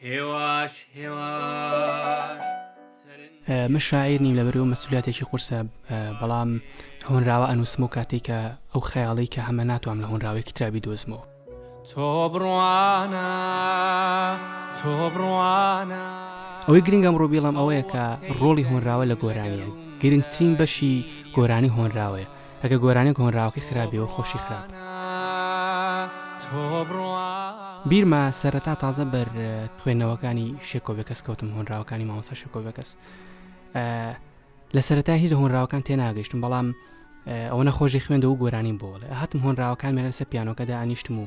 هێواش هێواش من شاعیر نیم لەبەرەوە مەسوولاتێکی قورسە بەڵام هۆنراوە ئەنووسم و کاتێکە ئەو خەیاڵی کە هەمە ناتوام لە هۆنراوێکی ترابی دۆزمەوە تۆ بڕوانە تۆ بڕوانە ئەوەی گرنگم ڕۆبیڵم ئەوەیە کە ڕۆڵی هۆنراوە لە گۆرانیە گرنگترین بەشی گۆرانی هۆنراوەیە ئەگە گۆرانیەک هۆنراوەکەی خراپبێ و خۆشی خراپ بیرمە سەرەتا تازە بەر خوێندنەوەکانی شێکۆبێکەس کەوتم هۆنراوەکانی مامۆستا شێکۆبێکەس لە سەرەتا هیچ هۆنراوەکان تێناگەشتم بەڵام ئەوەنە خۆشی خوێندەوە گۆرانین بۆڵێ هاتم هۆنراوەکان مێنەسە پیانۆکەدا ئانیشتم و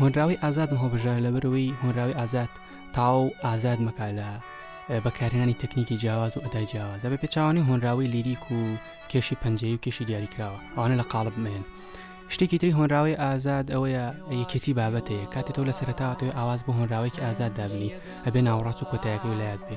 هۆنراوەی ئازادم هەڵبژارد لەبەرەوەی هۆنراوی ئازاد تاو ئازاد مەکە لە بەکارهێنانی تەکنیکی جیاواز و ئەدای جیاوازە بە پێچوانی هۆنراوەی لیریک و کێشی پەنجەی و کێشی دیاریکراوە ئەوانە لە قاڵب مێن شتێکی تری هۆنراوەی ئازاد ئەوەیە یەکێتی بابەتەیە کاتێ تۆ لە سەرتاوە توی ئاواز بۆ هۆنراوێکی ئازاد دابنی ئەبێ ناوەڕاست و کۆتایەکەی لایەت بێ